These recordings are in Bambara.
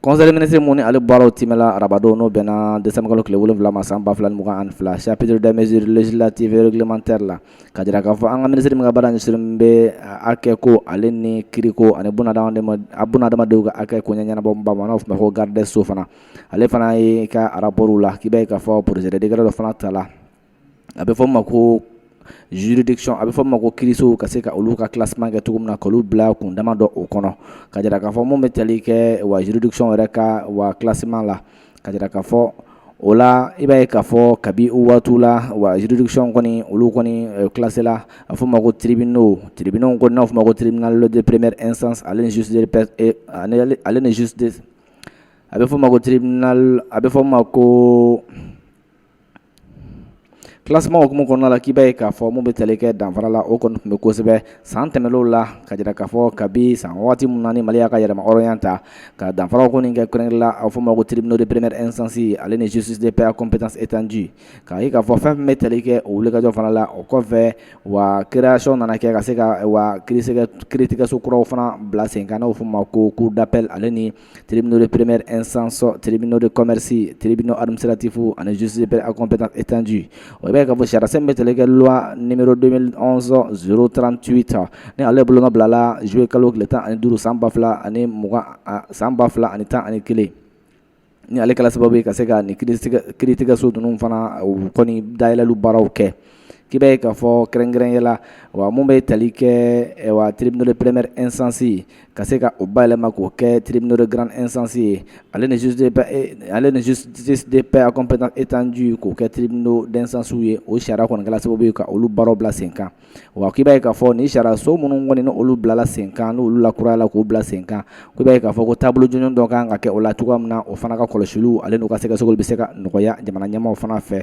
conseil des ministres mun ni ale baaraw timɛla arabadon n'o bɛnna décembre kalo tile wolonwula ma san ba fila ni mugan ani fila chapitre des mesures législatives et réglementaires la ka jira k'a fɔ an ka minisiri min ka baara ɲɛsinnen bɛ hakɛ ko ale ni kiiriko ani bunadamadenw ka hakɛ ko ɲɛɲɛnabɔ bama n'o fɔ ko garde des sceaux fana ale fana ye ka rapport la k'i b'a ye k'a fɔ projet de décret dɔ fana ta la a bɛ fɔ' ma ko juridiction a bɛ fɔ ma ko kiirisow ka se ka olu ka classement kɛ cogo min na k'olu bila kundama dɔ o kɔnɔ ka jira k'a fɔ mun bɛ tali kɛ wa juridiction yɛrɛ ka wa classement la ka jira k'a fɔ o la i b'a ye k'a fɔ kabi o waatiw la wa juridiction kɔni olu kɔni classé la a fɔ ma ko tribunal n'o tribunaux ko n'a fɔ ma ko tribunal de première instance ale ni justice a bɛ fɔ ma ko a bɛ fɔ ma ko Classement hukumu kɔnɔna la k'i b'a ye k'a fɔ mun bɛ tali kɛ danfara la o kɔni tun bɛ kosɛbɛ san tɛmɛnlenw la ka jira k'a fɔ kabi san waati min ni Mali y'a ka yɛrɛma hɔrɔnya ta ka danfaraw kɔni kɛ kɛrɛnkɛrɛnnen la a fɔ ma ko tribunaux de première instance ale ni justice de paix à compétence étendue k'a ye k'a fɔ fɛn bɛ tali kɛ o wulikajɔ fana la o kɔfɛ wa création nana kɛ ka se ka wa ki kiiritigɛso kuraw fana bila sen kan n'o fɔ ma ko cour d'appel ale ni tribunaux de première instance, tribunaux de commerce, tribunaux administratifs ani justice de paix à compétence étendue. I b'a ye k'a fɔ sariyasen bɛ tali kɛ loi numéro 2011 038 ni ale bolonɔ bilala juillet kalo tile tan ani duuru san ba fila ani mugan san ba fila ani tan ani kelen ni ale kɛla sababu ye ka se ka nin kiiritigɛso ninnu fana u kɔni dayɛlɛli baaraw kɛ. k'i b'a ye k'a fɔ kɛrɛnkɛrɛnya la wa mun bɛ tali kɛ wa tribunal de première instance ye ka se ka o bayɛlɛma k'o kɛ tribunal de grande instance ye ale ni juge de paix ale ni justice de paix à compétence étendue k'o kɛ tribunaux d'instance ye o sariya kɔni kɛla sababu ye ka olu baaraw bila senkan wa k'i b'a ye k'a fɔ nin sariyaso minnu kɔni n'olu bilala senkan n'olu lakurayala k'u bila senkan k'i b'a ye k'a fɔ ko taabolo jɔnjɔn dɔ ka kan ka kɛ o la cogoya min na o fana ka kɔlɔsiliw ale n'u ka sɛgɛsɛgɛliw bɛ se ka nɔgɔya jamana ɲɛmaaw fana fɛ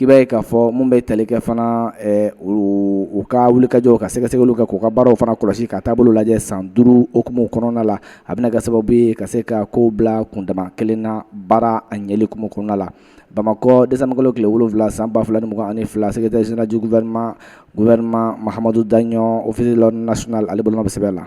k'i b'a ye k'a fɔ mun bɛ tali kɛ fana u ka wulikajɔw ka sɛgɛsɛgɛli kɛ k'u ka baaraw fana kɔlɔsi ka taabolo lajɛ san duuru hukumu kɔnɔna la a bɛna kɛ sababu ye ka se ka kow bila kundama kelen na baara a ɲɛli hukumu kɔnɔna la Bamakɔ décembre kalo tile wolonwula san ba fila ni mugan ani fila secrétaire général du gouvernement gouvernement Mahamadou Dagno officier de l'ordre national ale bolo bɛ sɛbɛn la